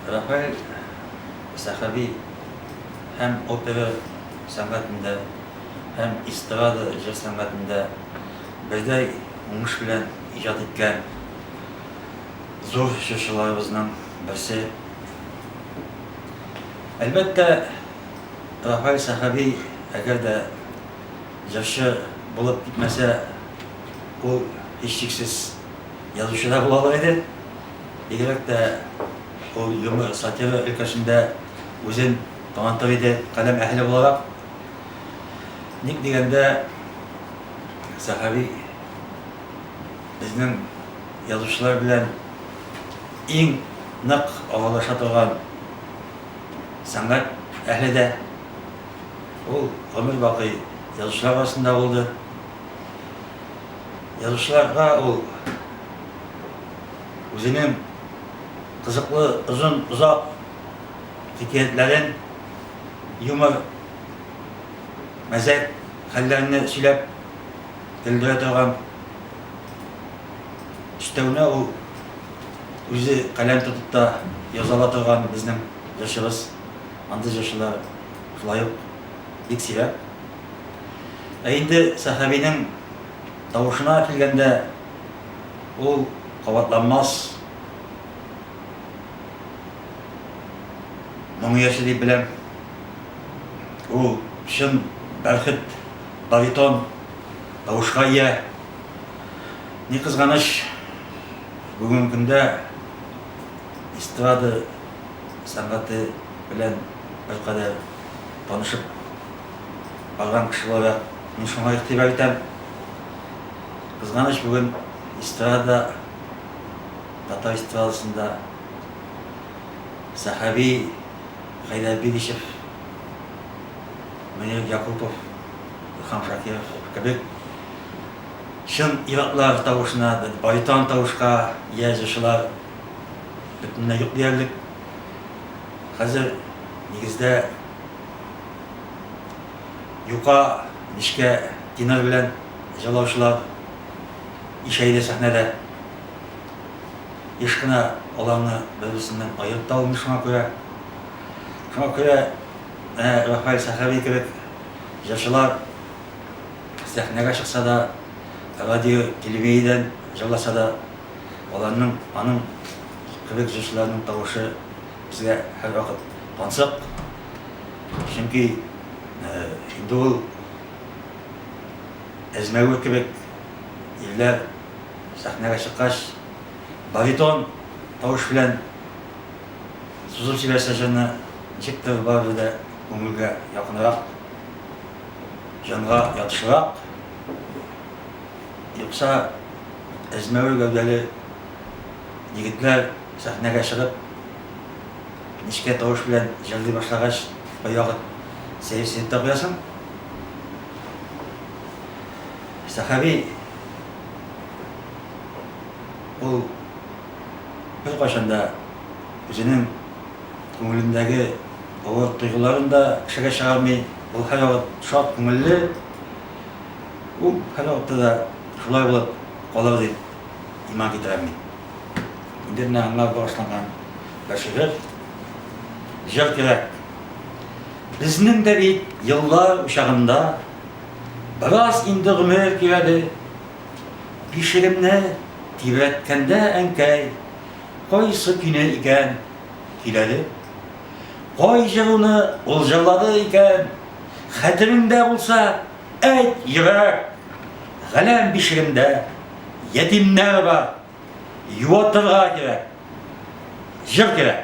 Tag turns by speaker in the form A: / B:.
A: Рафаэль Сәхәби һәм опера сәнгатендә, һәм эстрада җыр сәнгатендә бердәй уңыш белән иҗат иткән зур җырчыларыбызның берсе. Әлбәттә, Рафаэль Сәхәби әгәр дә җырчы булып китмәсә, ул, һичшиксез, язучы да була алыр иде. Бигрәк тә ул юмор, сатира өлкәсендә үзен танытыр иде каләм әһеле буларак. Ник дигәндә, Сәхави безнең язучылар белән иң нык аралаша торган сәнгать әһле дә. Ул гомер бакый язучылар арасында булды. Язучыларга ул үзенең кызыклы озын озак хикәятләрен, юмор, мәзәк хәлләрне сөйләп көлдерә торган өстәвенә ул үзе каләм тотып та яза ала торган безнең җырчыбыз. Андый җырчылар шулай ук бик сирәк. Ә инде Сәхәбинең тавышына килгәндә, Ул кабатланмас моң иясе дип беләм. Ул чын бәрхет, баритон тавышка ия. Ни кызганыч, бүгенге көндә эстрада сәнгате белән беркадәр танышып барган кеше буларак, мин шуңа игътибар итәм. Кызганыч, бүген эстрада, татар эстрадасында Сәхәби, Хәйдәр Билишев, Мөнир Якупов, Илһам Шакиров кебек чын ир-атлар тавышына, баритон тавышка ия җырчылар бөтенләй юк диярлек. Хәзер, нигездә, юка, нечкә тенор белән. Җырлаучылар ишәйде сәхнәдә. Еш кына аларны бер-берсеннән аерып та алмый шуңа күрә. Шуңа күрә менә Рафаэль Сәхәви кебек җырчылар сәхнәгә чыкса да, радио, телевидениедән җырласа да, аларның, аның кебек җырчыларның тавышы безгә һәрвакыт тансык. Чөнки инде ул. Әзмәгүр кебек ирләр сәхнәгә чыккач, баритон тавыш белән сузып җибәрсә җырны, ничектер барыбер дә күңелгә якынрак, җанга ятышлырак. Юкса, әзмәвер гәүдәле егетләр сәхнәгә чыгып. Нечкә тавыш белән җырлый башлагач, кайвакыт сәерсенеп тә куясың. Сәхәби ул беркайчан да үзенең күңелендәге авыр тойгыларын да кешегә чыгармый, ул һәрвакыт шат күңелле, ул һәрвакытта да шулай булып калыр дип иман китерәм мин. Инде менә аңлап башланган бер шигырь. Җыр кирәк. Безнең дә бит еллар учагында бераз инде гомер кирәде. Бишегемне тибрәткәндә әнкәй кайсы көйне икән көйләде? Кай җыруны ул җырлады икән? Хәтереңдә булса, Әйт, йөрәк, галәм бишегендә ятимнәр бар, юатырга кирәк, җыр кирәк.